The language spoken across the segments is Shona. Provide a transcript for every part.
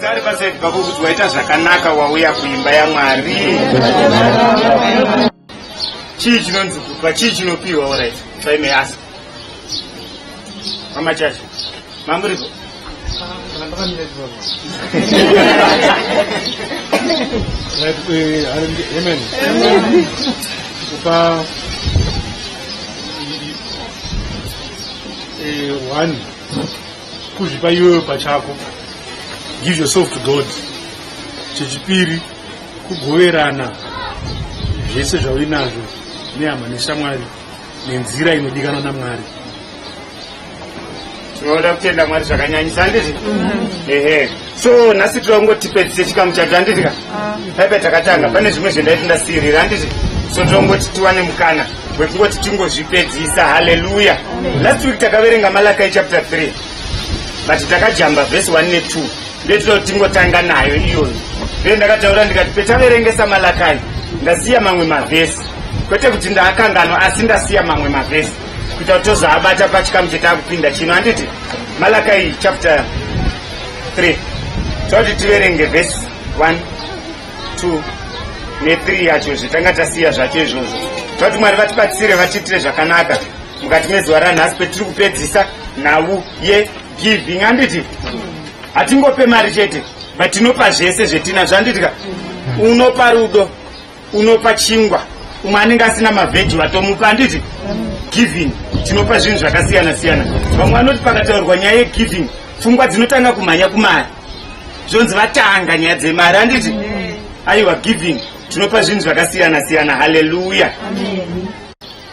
Tari pasaidi pako kuti waita zvakanaka wauya kuimba yaMwari. Chii chinonzi kupa? Chii chinopiwa? All right. If I may ask. Mama Chacha. Mamuriko. Right, eh, hallelujah. Amen. Kupa eh, one kuzvipa iwewe pachako give yourself to god chechipiri kugoverana zvese zvauinazvo nehama neshamwari nenzira inodikanwa namwari tinoda kutenda mwari zvakanyanyisa handizvi ehe so nhasi tira kungotipedzise chikamu chacho handitika paipa ah. takatanga pane zvimwe zvendaiti ndasirira handiti so tira kungoti tiwane mukana wekungoti tingozvipedzisa haleluya last week takaverenga malakai chapter 3 but takajamba vhesi 1 ne 2 ndetira kuti tingotanga nayo iyoyo nde ndakataura ndikati petaverengesa malakai ndasiya mamwe mavhesi kwete kuti ndaakanganwa asi ndasiya mamwe mavhesi kuita kuti tozoabata pachikamu chetaakupinda chino handiti malakai chapter 3 toti tiverenge vhesi 1 2 ne3 yacho zvitanga tasiya zvacho izvozvo toti mwari vatibatsire vatiitire zvakanaka mukati mezuva ranhasi kwetiri kupedzisa nhau yegiving anditi hatingope mari chete but tinopa zvese zvetinazvo anditi ka unopa rudo unopa chingwa umwe anenge asina mavhedhi vatomupa handiti giving tinopa zvinhu zvakasiyana siyana vamwe vanoti pakataurwa nyaya yegiving pfungwa dzinotanga kumhanya kumari zvonzi vatanga nyaya dzemari handiti aiwa giving tinopa zvinhu zvakasiyana siyana haleluya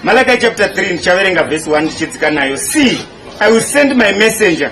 malakai chapter 3 ndichaverenga vhesi 1 ndichidzika nayo see i will send my messenger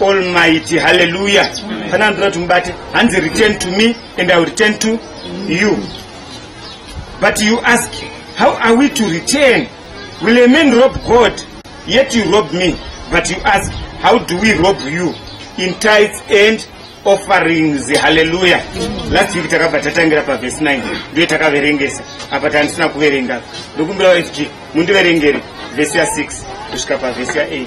almighty haleluya fana andira kuti mubate hanzi return to me and iwill return to you but you ask how are we to return will a man rob god yet you rob me but you ask how do we rob you in tides and offerings haleluya last week takabva tatangira pavhesi 9 ndiyo takaverengesa apa tandisina kuverenga ndokumbira wafg mundiverengere vhesi ya6 kusvika pavhesi ya 8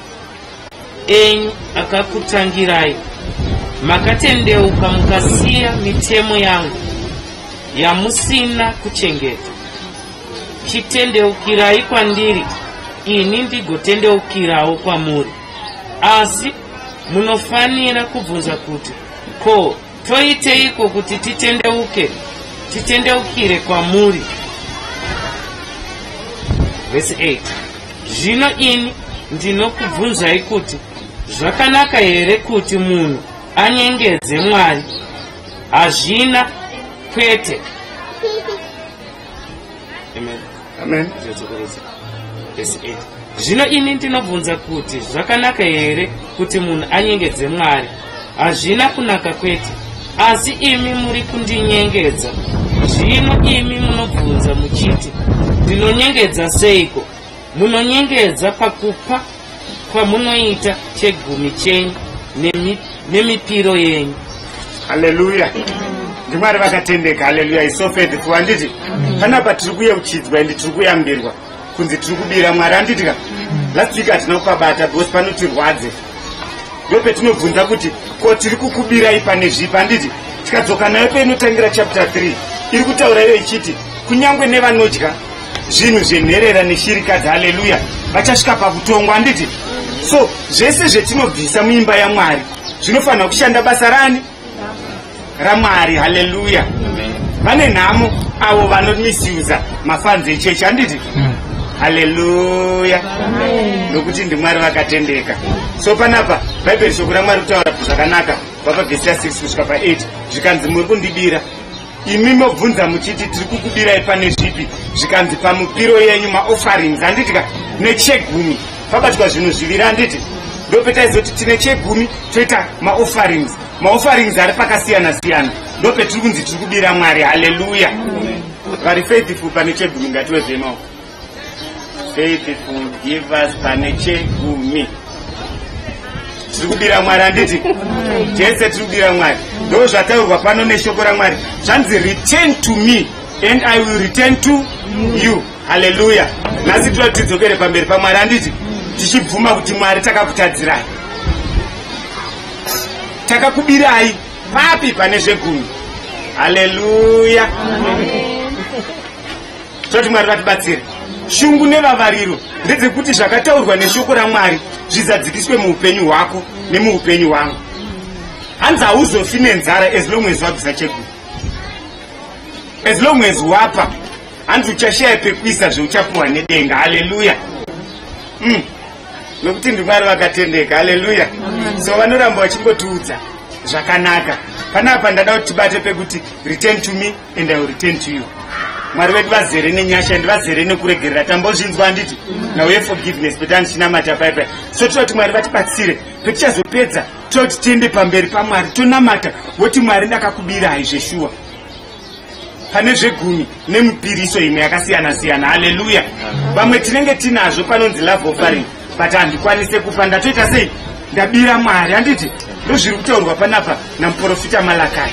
enyu akakutangirai makatendeuka mukasiya mitemo yangu yamusina kuchengeta chitendeukirai kwandiri ini ndigotendeukirawo kwamuri asi munofanira kubvunza kuti ko Toiteiko kuti titendeuke, titendeukire kwamuri? Verse 8. Zvino ini ndinokubvunzai kuti zvakanaka here kuti munhu anyengedze Mwari? Hazvina kwete. Amen. amen zvotsvukirudza vhesi 8 zvino ini ndinobvunza kuti zvakanaka here kuti munhu anyengedze mwari hazvina kunaka kwete asi imi muri kundinyengedza zvino imi munobvunza muchiti ndinonyengedza seiko munonyengedza pakupa kwamunoita chegumi chenyu nemi, nemipiro yenyu haleluya ndimwari vakatendeka haleluya isofedhfu handiti panapa tiri kuyeuchidzwa endi tiri kuyambirwa kunzi tiri kubira mwari handiti ka last week hatina kukabata because panotirwadze ndo petinobvunza kuti ko tiri kukubirai pane zvipi handiti tikadzoka nayo peinotangira chapter 3 iri kutaura iyo ichiti kunyange nevanodya zvinhu zvenherera neshirikadzi haleluya vachasvika pakutongwa handiti so zvese zvetinobvisa muimba yamwari zvinofanira kushanda basa rani ramwari haleluya vane nhamo avo vanomisiuza mafanzi echechi handiti hmm. haleluya nokuti ndimwari vakatendeka so panapa bhaibheri shoko ramwari kutaura zvakanaka vapa vhesi ya 6 kusvika pa 8 zvikanzi muri kundibira imi mobvunza muchiti tiri kukubirai pane zvipi zvikanzi pamupiro yenyu maofferings handidika nechegumi pabatwa zvinhu zviviri handiti ndopetaizoti tine chegumi toita maofferings maofferings ari pakasiyana siyana ndopetiri kunzi tiri kubira mwari haleluya vari faithful pane chegumi ngatiwezvemaoko Faith forgive us pane chegumi tiri kubira mwari handiti tese tiri kubira mwari ndo zvataurwa pano neshoko ramwari zvanzi return to me and i will return to you haleluya nhasi tinoda kuti tidzokere pamberi pamwari handiti tichibvuma kuti mwari takakutadzirai takakubirai papi pane zvegumi haleluya Amen. toti mwari vatibatsire shungu nevavariro ndedzekuti zvakataurwa neshoko ramwari zvizadzikiswe muupenyu hwako nemuupenyu hwangu hanzi hauzofi nenzara as long as wabvisa cheguru as long as wapa hanzi uchashaya pekuisa zveuchapuwa nedenga haleluya mm. nokuti ndimwari vakatendeka haleluya so vanoramba vachingotiudza zvakanaka panapa ndada kuti tibate pekuti return to me and i will return to you mwari vedu vazere nenyasha and vazere nekuregerera tambozvinzwa handiti now ye forgiveness but andichinamata paipai so toda kuti mwari vatibatsire petichazopedza toda kuti tiende pamberi pamwari tonamata woti mwari ndakakubirai zveshuwa pane zvegumi nemupiriso imwe yakasiyana siyana haleluya vamwe tinenge tinazvo panonzi love offering but handikwanise kupa ndatoita sei ndabira mwari handiti ndozviri kutaurwa panapa namuprofita malakai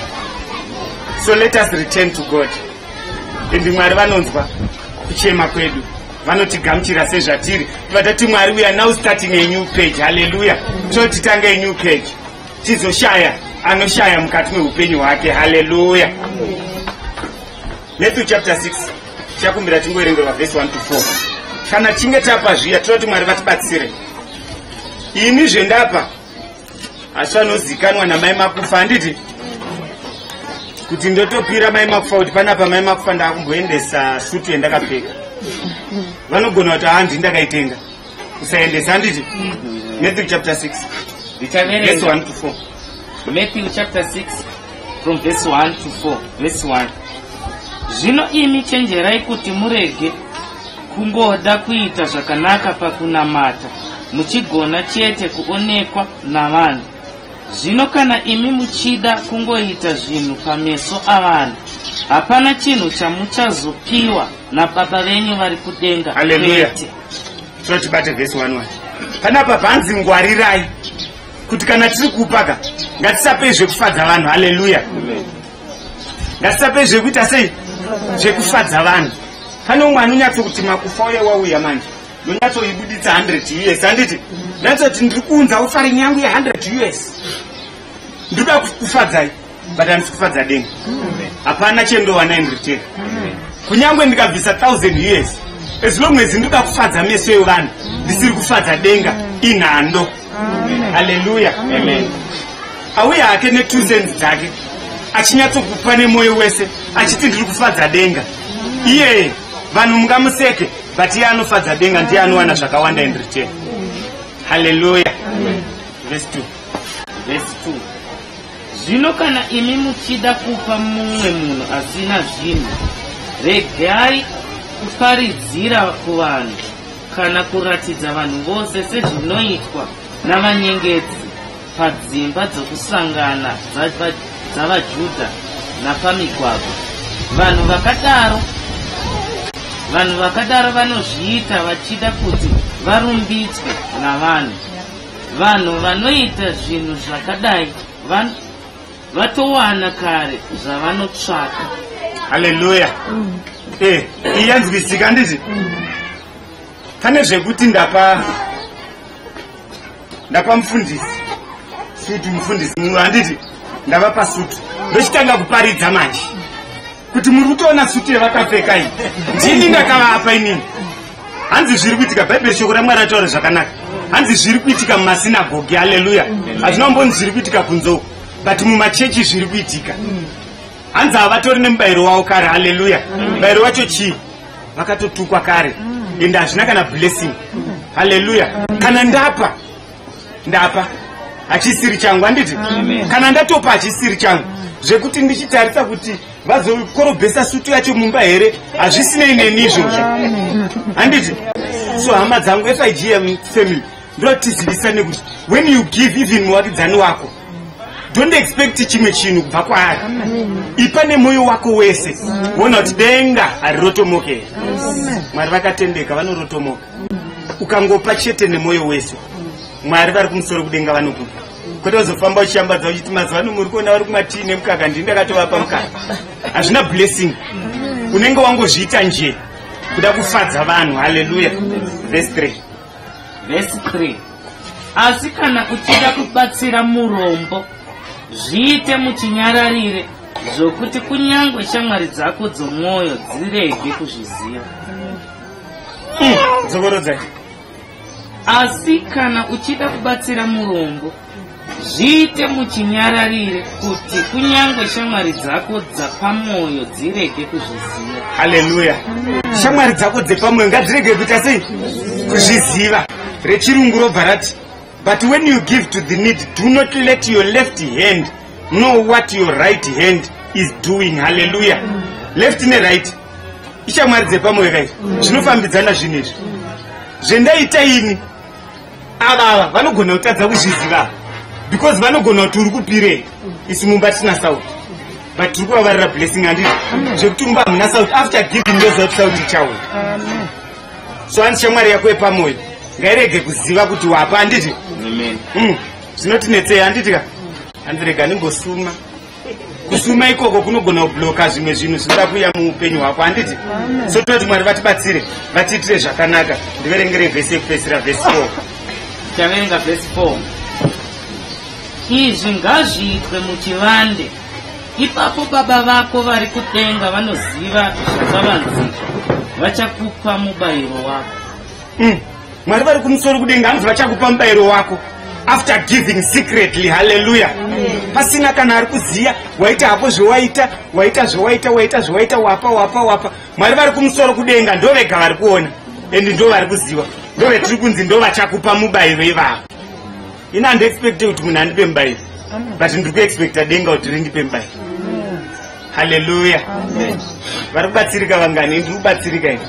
so let us return to god and mwari vanonzwa kuchema kwedu vanotigamuchira sezvatiri vatati mwari we are now starting a new page halleluya totitanga a new page tizoshaya anoshaya mukati meupenyu hwake halleluya Matthew chapter 6 tichakumbira tingoerengerwa vhesi 1 to 4 kana chinge tapa zviya toda kuti mwari vatibatsire ini zvendapa asi vanozikanwa namai makufa handiti kuti ndotopira mai makufa kuti panapa mai makufa ndakumboendesa sutu yendakapfeka vanogona kuti handi ndakaitenga kusaendesa handiti matthew chapter 6 Ndichaverenga. vhesi 1 to 4 Matthew chapter 6 from verse 1 to 4 verse 1 zvino imi chenjerai kuti murege kungoda kuita zvakanaka pakunamata muchigona chete kuonekwa navanhu zvino kana imi muchida kungoita zvinhu pameso avanhu hapana chinhu chamuchazopiwa nababa venyu vari kudenga aleluya totibate vhesi 1 panapa panzi ngwarirai kuti kana tiri kupa ka ngatisapei zvekufadza vanhu haleluya ngatisapei zvekuita sei zvekufadza vanhu pane umwe anonyatso kuti makufa uye wauya manje ndonyatsoibuditsa 100 us handiti nyatsoti ndiri kuunza ofari nyangu ye 100 us ndikuda kufadzai but handisi kufadza denga hapana chendowana in return kunyange ndikabvisa 1000 years as long as ndikuda kufadza meso evanhu ndisiri kufadza denga inhando haleluya amen auye hake ne2 cents dzake achinyatsokupa nemwoyo wese achiti ndiri kufadza denga iyeye vanhu mungamuseke but iye anofadza denga ndiye anowana zvakawanda in return haleluya vese 2 vese 2 Zvino kana imi muchida kupa mumwe munhu asina zvinhu, regai kuparidzira kuvanhu kana kuratidza vanhu vose sezvinoitwa navanyengedzi padzimba dzokusangana dzavaJudha napamigwagwa. Vanhu vakadaro vanhu vakadaro vanozviita vachida kuti varumbidzwe navanhu. Vanhu vanoita zvinhu zvakadai van, vatowana kare zvavanotsvaka. Haleluya. Mm. Eh, iyanzwisika ndizvi. Mm. Pane zvekuti ndapa ndapa mfundisi. Sutu mfundisi mumwe handiti ndavapa sutu. Ndochitanga kuparidza manje. kuti muri kutoona suti yevakapfeka iyi ndini ndakavapa inini hanzi zviri kuitika bhaibheri shoko ramwari ataura zvakanaka hanzi zviri kuitika mumasinagogi aleluya hazvina mboni zviri kuitika kunzou but mumachechi zviri kuitika hanzi havatori nemubayiro wavo kare aleluya mubayiro wacho chii vakatotukwa kare ende hazvina kana blessing aleluya kana ndapa ndapa hachisiri changu handiti kana ndatopa hachisiri changu zvekuti ndichitarisa kuti vazokorobhesa sutu yacho mumba here hazvisinei neni izvozvo handiti so hama dzangu figm family ndotizivisane kuti when you give even muvakidzani wako don't expect chimwe chinhu kubva kwaari ipa nemwoyo wako wese vona kuti denga harirotomokera mwari vakatendeka vanorotomoka ukangopa chete nemwoyo wese mwari vari kumusoro kudenga vanokupa kwete uzofamba uchiyambadza uchiti mazuva ano muri kuona vari kumatii nemukaka ndini ndakatovapa mukaka hazvina blessing unenge wangozviita nje kuda kufadza vanhu haleluya vese 3 vese 3 asi kana uchida kubatsira murombo zviite muchinyararire zvokuti kunyange shamwari dzako dzomwoyo dzirege kuzviziva dzokorodzai asi kana uchida kubatsira murombo zviite muchinyararire kuti kunyange shamwari dzako dzapamwoyo dzirege kuzviziva haleluya shamwari dzako dzepamwoyo ngadzirege kuita sei kuzviziva rechirungu robva rati But when you give to the need, do not let your left hand know what your right hand is doing. Hallelujah. Left ne right. Ishamwari dzepamwe right. Zvinofambidzana zvinhu izvi. Zvendaita ini ava ava vanogona kutadza kuzviziva because vanogona kuti uri kupirei isi mumba tisina sauti but tiri kuvavarira blessing andii zvekuti mumba hamuna sauti after giving yozout sauti chauya so hanzi shamwari yako yepamoyo ngairege kuziva kuti wapa handiti mm. zvinotinetsei handiti ka hanzi rega ndimbosuma kusuma ikoko kunogona kubloka zvimwe zvinhu zvinoda kuuya muupenyu hwako handiti so tinoda kuti mwari vatibatsire vatiitire zvakanaka ndiverengere vhesi yekupedzisira vhesi four taverenga vhesi four izvi ngazviitwe muchivande ipapo baba vako vari kudenga vanoziva zvavanzika vachakupa mubayiro wako mm. mwari vari kumusoro kudenga anzi vachakupa mubayiro wako after giving secretly haleluya pasina kana ari kuziva waita hapo zvewaita waita zvewaita waita zvewaita wapa wapa wapa mwari vari kumusoro kudenga ndo vega vari kuona endi ndo vari kuziva ndo vetiri kunzi ndo vachakupa mubayiro ivavo ini handiexpecte kuti munhu andipe mubairo but ndiri kuexpecta denga kuti rindipe mubairo haleluya vari kubatsirika vangani ndiri kubatsirika ini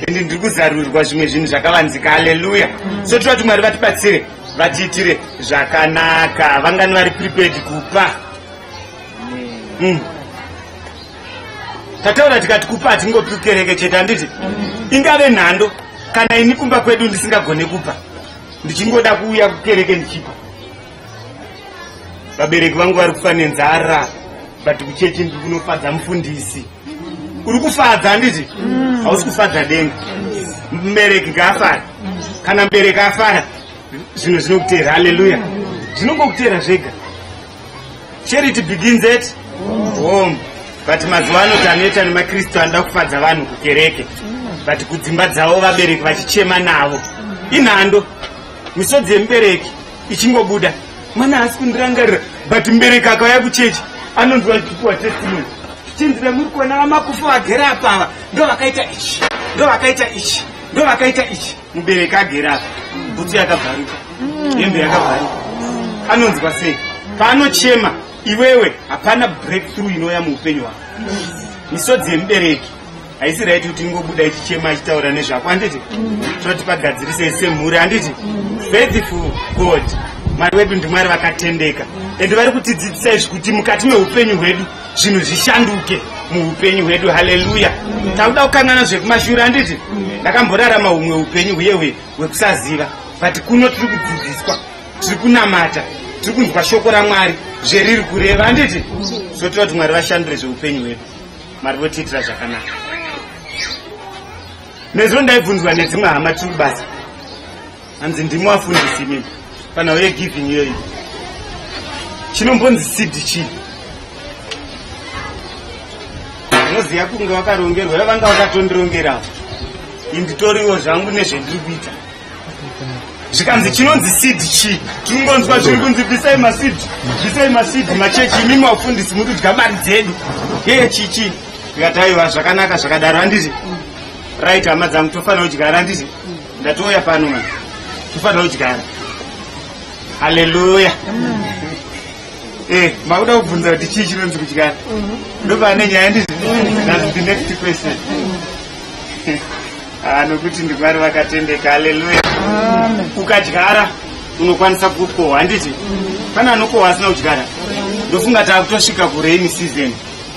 endi ndiri kuzarurirwa zvimwe zvinhu zvakavanzika haleluya so tira kuti mwari vatibatsire vatiitire zvakanaka vangani vari prepared kupa mm. tataura tikati kupa hatingopi kereke chete handiti ingave nhando kana ini kumba kwedu ndisingagone kupa ndichingoda kuuya kukereke ndichipa vabereki vangu vari kufa nenzara but kuchechi ndiri kunofadza mufundisi uri kufadza handiti mm. hausi kufadza denga mubereki ngaafara kana mubereki afara zvinhu zvinokuteera haleluya zvinongokuteera zvega charity begins at home but mazuva ano taneta nemakristu anoda kufadza vanhu kukereke but kudzimba dzavo vabereki vachichema navo inhando misodzi yemubereki ichingobuda mwana haasi kundirangarira but mubereki akauya kuchechi anonzwa chipuwa testimony chinzira muri kuona vamakufa vagere apava ndovakaita ichi ndovakaita ichi ndovakaita ichi mubereki agere apa bhutsu yakabvaruka mm. hembe yakabvaruka anonzwa sei paanochema iwewe hapana breakthrough inouya muupenyu hwako misodzi yemubereki haisi raiti kuti ingobuda ichichema achitaura nezvako handiti mm. toti pagadzirise semhuri handiti mm. faithful god mwari wedu ndimwari vakatendeka ende vari kutidzidzisa izvi kuti mukati meupenyu hwedu zvinhu zvishanduke muupenyu hwedu haleluya takuda kukanana zvekumashure handiti ndakamborarama humwe upenyu huye hwekusaziva but kuno tiri kudzidziswa tiri kunamata tiri kunzwa shoko ramwari zveriri kureva handiti so tira kuti mwari vashandure zveupenyu hwedu mwari votiitira zvakanaka nezvo ndaibvunzwa nedzimwe hama tiri kubasa hanzi ndimi wafundisi mimi panhau yegiving iyoyi chinombonzi seed chii unoziva kunge wakarongerwa iwe vanga wakatondirongerawo inditoriwo zvangu nezvendiri kuita zvikanzi chinonzi seed chii tinongonzwa zviri kunzi bvisai maseed bvisai maseed machechi imimi wafundisi muri kudya mari dzedu yeye chii chii ndikataiwa zvakanaka zvakadaro handiti right hama dzangu tofanira kudya handiti ndatouya pano mwana tofanira kudyara haleluya eh makuda kubvunza kuti chii chinonzi kudyara ndopane nyaya ndizvi that's the next question Ah, nokuti ndimwari vakatendeka haleluya ukadyara unokwanisa kukohwa handiti pane anokohwa asina kudyara ndofunga taakutosvika kurainy season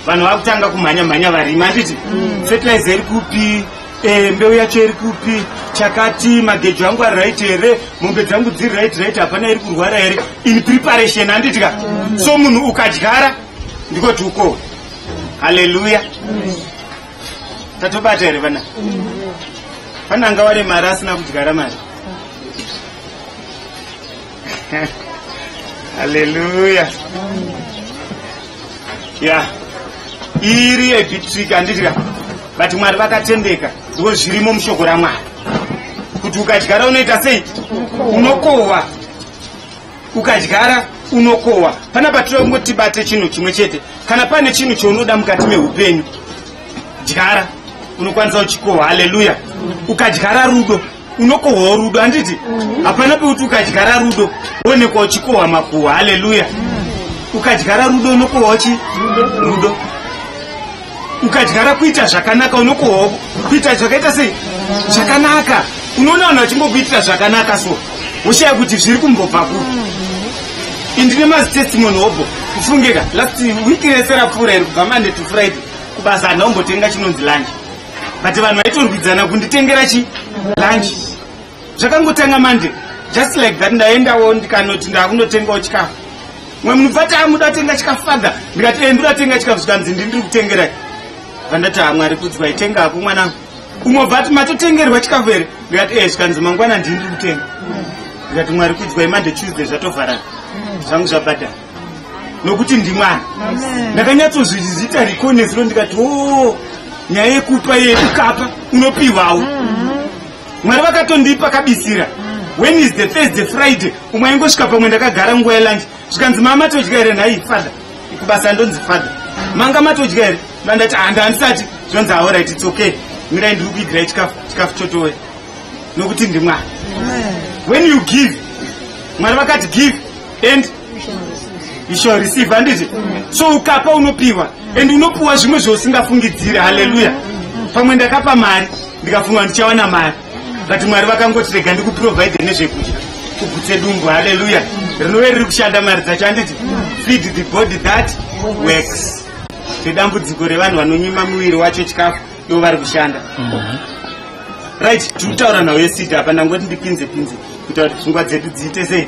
vanhu vakutanga kumhanya mhanya varima handiti fertilizer iri kupi Eh, mbeu yacho iri kupi chakati magejo angu ari right here mombe dzangu dziri right right hapana iri kurwara here in preparation handitya so munhu ukadyara ndikoti uko haleluya tatobata here vana pane anga ware mari asina kudyara mari haleluya ya iri yebhitrika anditira but mwari vakatendeka ndiko zvirimo mushoko ramwari kuti ukadyara unoita sei unokohwa ukadyara unokohwa pana patira kungotibate chinhu chimwe chete kana pane chinhu chaunoda mukati meupenyu dyara unokwanisa uchikohwa haleluya ukadyara rudo unokohwawo rudo handiti mm. hapana pekuti ukadyara rudo woonekwa uchikohwa makuhwa haleluya ukadyara rudo unokohwawo chi rudo ukadyara kuita zvakanaka unokohwawo kuita zvakaita sei zvakanaka unoona vanhu vachingokuitira zvakanaka so woshaya kuti zviri kumbobva kupi mm-hmm. indine mazitestimony hobho kufungeka last week rese rapfuura iri kubva mande to friday kubasa handaumbotenga chinonzi lanji but vanhu vaitorwidzana kunditengera chi lunch zvakangotanga mande just like that ndaendawo ndikanoti ndakunotengawo chikafu mwe munhu bvati amuda tenga chikafu father ndikati e eh, ndoda tenga chikafu zvikanzi ndi ndiri kutengerai vandati hamwari kudzwa itenga hako mwana umwe bvati matotengerwa chikafu here ndikati e eh, zvikanzi mangwana ndii ndiri kutenga ndikati mwari kudzwa imande tuesday zvatovharana zvangu zvabhadhara nokuti ndimwana ndakanyatsozvizita riko nezuro ndikati o oh, nyaya yekupa ye ukapa unopiwawo mm-hmm. mwari vakatondipa kabisira mm. when is the thursday friday umwe aingosvika pamwe ndakagara nguva yelunch zvikanzi maa matodya here nhai father kubasa ndonzi father manga matodya here ndandati handa ah, andisati zvonzi aorit its okay mirai ndiri kuigirai chikafu chikafu chotowe nokuti ndimwari when you give mwari vakati give and you shall receive handiti so ukapa unopiwa and unopiwa zvimwe zvausingafungidzire haleluya pamwe ndakapa mari ndikafunga ndichawana mari but mwari vakangotirega ndikuprovide nezvekudya kugutse dumbu haleluya rinove riri kushanda mari dzacho handiti feed the body that works ndedambudziko revanhu vanonyima muviri wacho chikafu ivo vari kushanda mhm. right tiri kutaura nhau yesidi apa ndangoti ndipinze pinze kuita kuti pfungwa dzedu dziite sei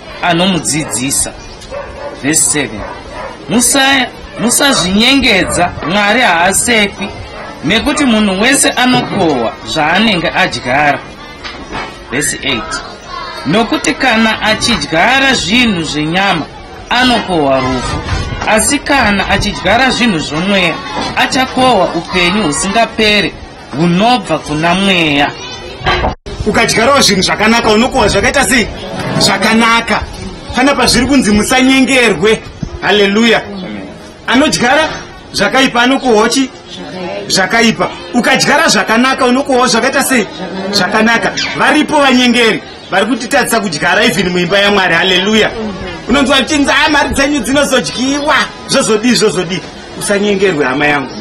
anomudzidzisa vhesi 7 musazvinyengedza musa mwari haasekwi nekuti munhu wese anokohwa zvaanenge adyara vhesi 8 nokuti kana achidyara zvinhu zvenyama anokohwa rufu asi kana achidyara zvinhu zvomweya achakohwa upenyu husingapere hunobva kuna mweya ukadyarawo zvinhu zvakanaka unokuhwa zvakaita sei zvakanaka pana pazviri kunzi musanyengerwe haleluya anodyara zvakaipa anokuhochi zvakaipa ukadyara zvakanaka unokuhwa zvakaita sei zvakanaka varipo vanyengeri vari kutitadzisa kudyara even muimba yamwari haleluya unonzwa kuchinzi a mari dzenyu dzinozodyiwa zvozodii zvozodii usanyengerwe hama yangu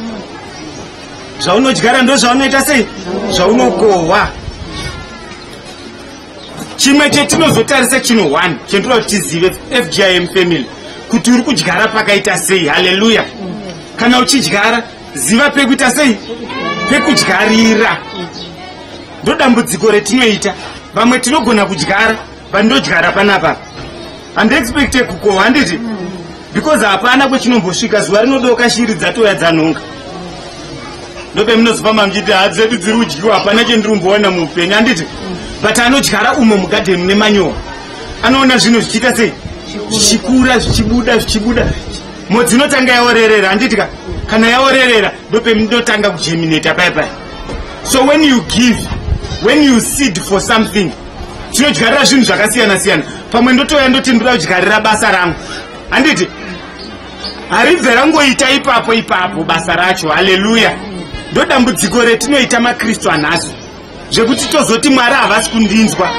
zvaunodyara ndozvaunoita sei zvaunokohwa chimwe chetinozotarisa chino one chentoda kuti tizive fgim family kuti uri kudyara pakaita sei haleluya kana uchidyara ziva pekuita sei pekudyarira ndodambudziko retinoita vamwe tinogona kudyara vandodyara panapa handiexpecte kukohwa handiti because hapana kwechinombosvika zuva rinodoka shiri dzatoya dzanhonga ndopemunozofamba muchiti ha dzedu dziri udyiwa hapana chendiri kumboona muupenyu handiti but anodyara umo mugadheni mune manyowa anoona zvinhu zvichiita sei zvichikura zvichibuda zvichibuda modzi inotanga yaorerera handiti ka kana yaorerera ndopemunotanga kujemineta pai pai so when you give when you seed for something tinodyarira zvinhu zvakasiyana siyana pamwe ndotouya ndoti ndoda kudyarira basa rangu handiti haribve rangoita ipapo ipapo basa racho haleluya ndodambudziko retinoita makristu anhasi zvekuti tozoti mwari havasi kundinzwa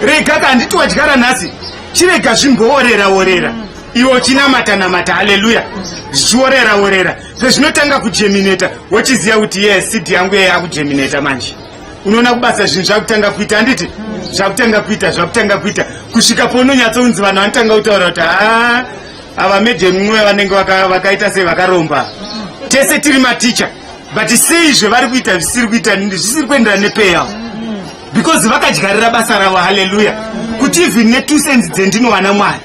rega ka handiti wadyara nhasi chirega zvimboorera orera iwe uchinamata namata haleluya zvichiorera orera sezvinotanga kujemineta wochiziva kuti ye sidi yangu yeye akujemineta manje unoona kubasa zvinhu zvakutanga kuita handiti zvakutanga kuita zvakutanga kuita kusvika pounonyatsounzi vanhu vanotanga kutaura kuti haa ava madam mwe vanenge vakaita sei vakaromba tese tiri maticha but sei zvevari kuita zvisiri kuita zvisiri kuenderana nepeya because vakadyarira basa ravo haleluya kuti even netwo senzi dzendinowana mwari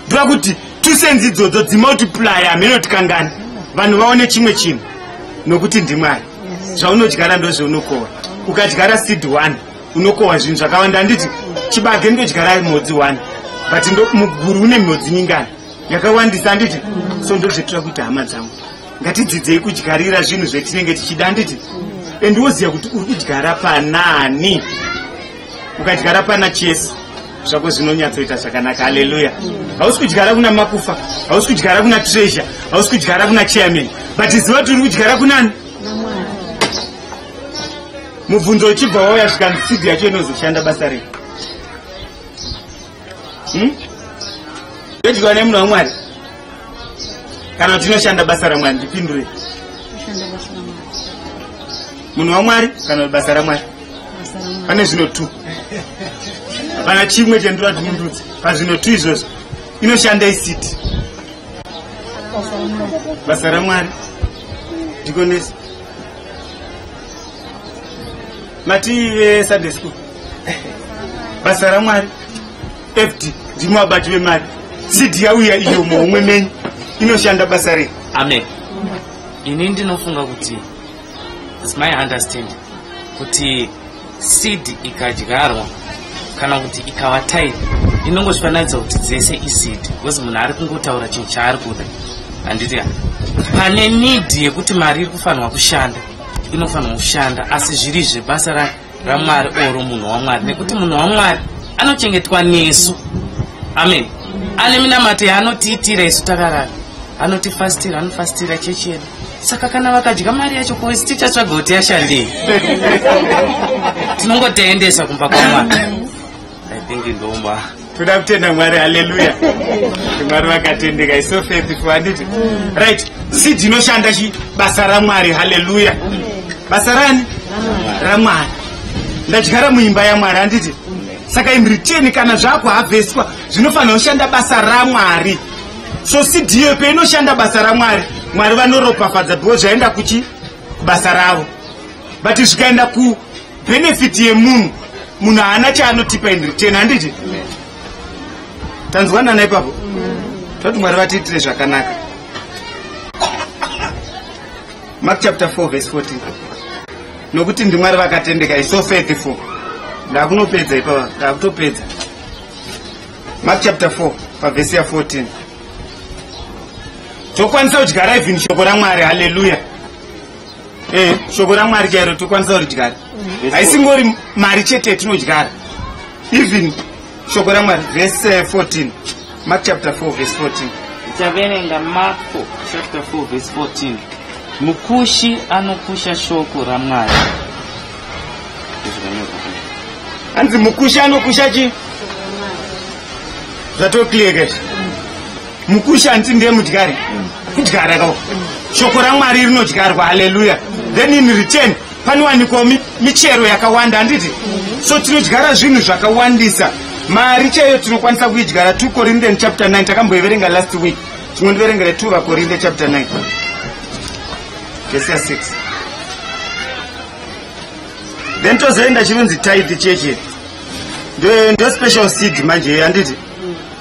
ndoda kuti two senzi idzodzo dzimultiplya hameno tikangani vanhu vaone chimwe chinhu nokuti ndimwari zvaunodyara ndozvaunokohwa ukadyara seed one unokohwa zvinhu zvakawanda handiti chibage ndodyara mhodzi one but muguru une mhodzi mingani yakawandisa handiti so ndozvetira kuti hama dzangu ngatidzidzei kudyarira zvinhu zvetinenge tichida handiti and woziva kuti uri kudyara panani ukadyara pana chese zvako zvinonyatsoita zvakanaka haleluya hausi kudyara kuna makufa hausi kudyara kuna treasure hausi kudyara kuna chairman but ziva kuti uri kudyara kunani mubvunzo uchibva wauya zvikanzi sidhi yacho inozoshanda basa rei hmm? yodyiwa nemunhu wamwari kana kuti inoshanda basa ramwari ndipindure munhu wamwari kana kuti basa ramwari pane zvino two hapana chimwe chendura timundudzi pazvino two izvozvo inoshanda isiti basa ramwari ndikonesa mati vesunday school basa ramwari fd ndimwe abati vemari cd yauya iyo muhomwe menyu inoshanda basa rei amen ini ndinofunga kuti is my understand kuti seed ikadyarwa kana kuti ikava time inongozvifananidza kuti dzese iseed because munhu ari kungotaura chinhu chaari kuda handiti pane need yekuti mari iri kufanirwa kushanda inofanirwa kushanda asi zviri zve basa rake ramwari oro munhu wamwari nekuti munhu wamwari anochengetwa nesu amen ane minamato yaanotiitira isu takarara anotifastira anofastira chechi yedu saka kana vakadya mari yacho koisi tichatsvaga kuti yashandei tinongotaendesa kumba kwamwari I think ndoma toda kutenda mwari haleluya mwari vakatendeka iso faithful handiti right seed inoshanda chi basa ramwari haleluya basa rani ramwari ndadyara muimba yamwari handiti saka in return kana zvakuhavheswa zvinofanira kushanda basa ramwari so seed iyo peinoshanda basa ramwari mwari vanoropafadza bhiwo zvaenda kuchi kubasa ravo but zvikaenda ku benefit yemunhu munhu haana chaanotipa in return handiti tanzwanana ipapo toti mwari vatiitire zvakanaka mark chapter 4 verse 14 nokuti ndimwari vakatendeka iso faithful ndakunopedza ipapa ndakutopedza mark chapter 4 pavhesi ya 14 tokwanisa kudyara even shoko ramwari haleluya eh, shoko ramwari chairo tokwanisa kuridyara mm. haisingori mari chete yatinodyara even shoko ramwari vese 14 mark chapter 4 vese 14 taverenga marko chapter 4 vese 14 mukushi anokusha shoko ramwari hanzi mukushi anokusha chi zvatokliekesha mukushi hanti ndiye mudyari kudyara ka shoko ramwari rinodyarwa haleluya then in return panowanikwa michero yakawanda handiti so tinodyara zvinhu zvakawandisa mari chaiyo tinokwanisa kuidyara two corinthian chapter 9 takamboiverenga last week tinondiverengere two vakorinthe chapter 9 vese ya 6 then tozoenda chinonzi tithe cheche ndo special seed manje handiti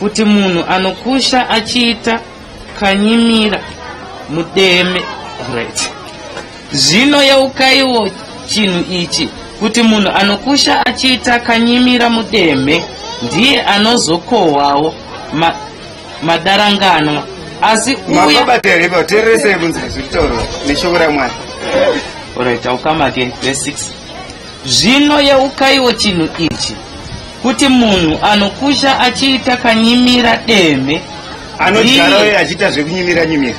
Kuti munhu anokusha achiita kanyimira mudeme right. Zvino yeukaiwo chinhu ichi kuti munhu anokusha achiita kanyimira mudeme ndiye anozokohwawo ma, madaranganwa asi uye mababateibatereresei kunzi zvitaurwa neshoko ramwari Alright, I'll come again. Verse 6. Zvino yeukaiwo chinhu ichi, kuti munhu anokusha achiita kanyimira demhe, Anodyara uye achiita zvekunyimira nyimira.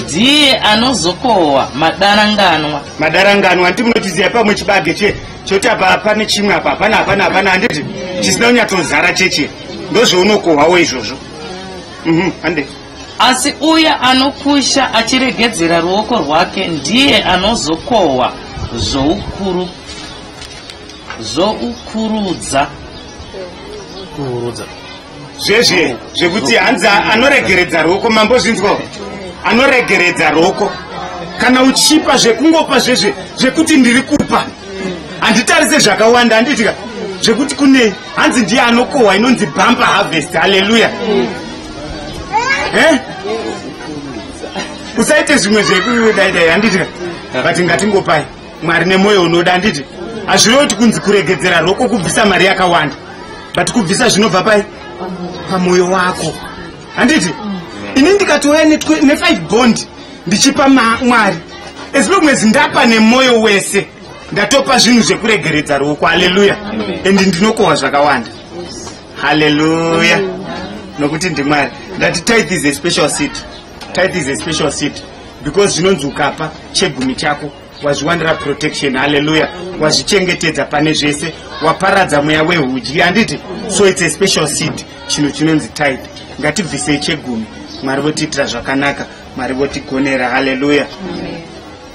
ndiye anozokohwa madaranganwa. Madaranganwa hanti munotiziva pamwe chibage che choti apa pane chimwe apa hapana hapana hapana handiti chisina kunyatsozara cheche ndozvounokohwawo izvozvo. Mhm, hande. Asi uya anokusha achiregedzera ruoko rwake ndiye anozokohwa zvoukuru zvoukurudza kuurudza zvezve zvekuti hanzi anoregeredza ruoko mambo zvinzwa anoregeredza ruoko kana uchipa zvekungopa zvezve zvekuti ndiri kupa handitarise zvakawanda handiitika zvekuti kunei hanzi ndiye anokohwa inonzi bumper harvest haleluya eh? usaite zvimwe zvekudaidai handiti but ngatingopai mwari nemwoyo unoda handiti hazvirewo kuti kunzi kuregedzera roko kubvisa mari yakawanda but kubvisa zvinobva pai pamwoyo wako handiti ini ndikatouya nefive bond ndichipa mwari as long as ndapa nemwoyo wese ndatopa zvinhu zvekuregeredza ruoko haleluya and ndinokohwa zvakawanda haleluya nokuti ndimwari ndati tithe is a special seat tithe is a special seat because zvinonzi ukapa chegumi chako wazviwanira protection haleluya wazvichengetedza pane zvese waparadza mweya wehudyi handiti so its a special seed chinhu chinonzi type ngatibvisei chegumi mwari votiitira zvakanaka mwari votigonera haleluya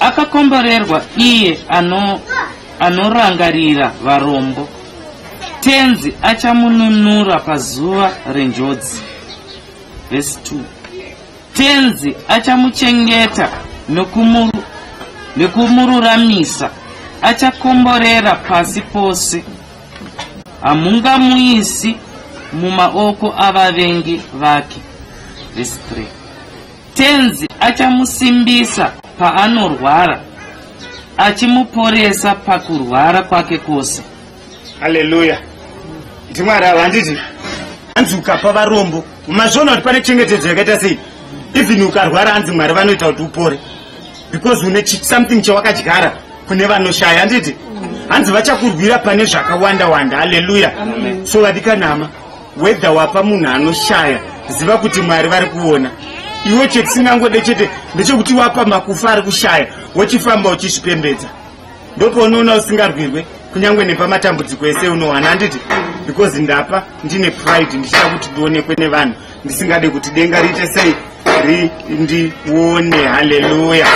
Akakomborerwa iye ano, anorangarira varombo, Tenzi achamununura pazuva renjodzi. Vhesi 2 Tenzi achamuchengeta nokumuru, nokumururamisa, achakomborera pasi pose. Hamungamuisi mumaoko avavengi vake. Vhesi 3 Tenzi achamusimbisa paanorwara, achimuporesa pakurwara kwake kwose. Haleluya! Nditi Mwari ava handiti hanzi ukapa varombo mazviona kuti pane chengetedzo yakaita sei even ukarwara hanzi mwari vanoita kuti upore because une something chawakadyara kune vanoshaya handiti hanzi vachakurwira pane zvakawanda wanda haleluya so vadikanama Whether wapa munhu anoshaya ziva kuti Mwari vari kuona. Iwe chetisingangode chete ndechekuti wapa makufa ari kushaya wochifamba uchizvipembedza. Ndopaunoona usingarwirwe kunyange nepamatambudziko ese unowana anditi because ndapa ndine pride ndichida kuti ndionekwe nevanhu ndisingade kuti denga riite sei ri ndione haleluya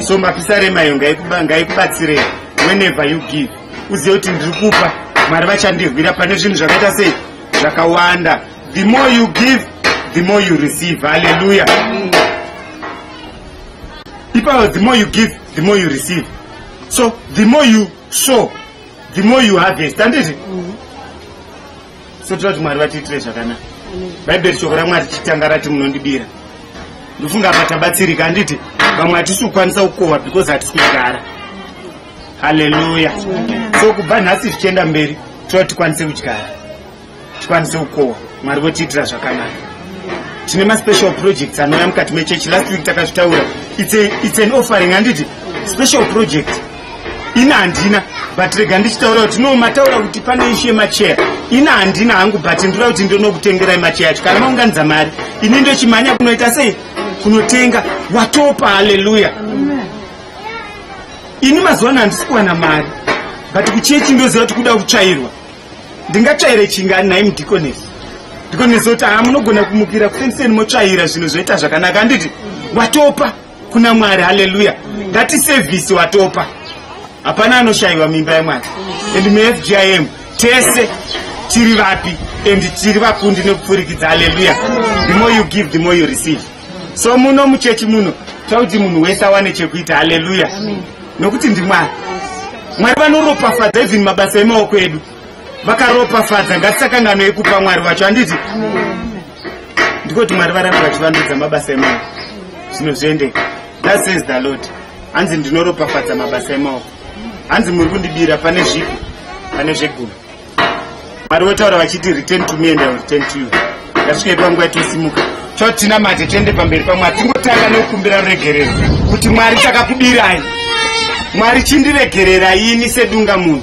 so mapisa remayo ngaikubatsirei whenever you give uzive kuti ndiri kupa mwari vachandirwira pane zvinhu zvakaita sei zvakawanda the more you give the more you receive halleluya ipapo the more you give the more you receive so the more you sow the more you harvest handiti mm -hmm. so tira kuti mwari vatiitire zvakanaka bhaibheri shoko ramwari tichitanga rati munondibira ndofunga apa tabatsirika handiti vamwe hatisi kukwanisa kukohwa because hatisi kugara haleluya so kubva nhasi zvichienda mberi tira tikwanise kudyara tikwanise kukohwa mwari votiitira zvakanaka tine maspecial projects anouya mukati mechechi last week takazvitaura it's an offering handiti special project ini handina but rega ndichitaura kuti no mataura kuti pane ishu yemacheya ini handina hangu but ndira kuti ndinokutengerai macheya acho kana maunganidza mari ini ndochimhanya kunoita sei kunotenga watopa haleluya ini mazuva ano handisi kuwana mari but kuchechi ndoziva kuti kuda kutsvairwa ndingatsvaire chingani nhai mudikonesi ndikonesi kuti haa munogona kumukira kufenseni motsvaira zvinhu zvoita zvakanaka handiti watopa kuna mwari haleluya ngati sevhisi watopa hapana anoshayiwa mimba yemwari and mufgim tese tiri vapi and tiri vakundi nekupfurikidza haleluya the more you give the more you receive so muno muchechi muno tauti munhu wese awane chekuita haleluya nokuti ndimwari mwari vanoropafadza even mabasa emaoko edu vakaropafadza ngatisakangano ekupa mwari vacho handiti ndiko kuti mwari varambe vachivandudza mabasa emaoko zvinhu zviendeka that says the lord hanzi ndinoropafadza mabasa emaoko hanzi muri kundibira pane zvipi pane zvegumi mwari votaura vachiti return to me and ill return to you ndasvikaitwa nguva yatosimuka chotina mate tiende pamberi pamwari tingotanga nekukumbira ruregerero kuti mwari takakubirai mwari chindiregerera ini sedunga munhu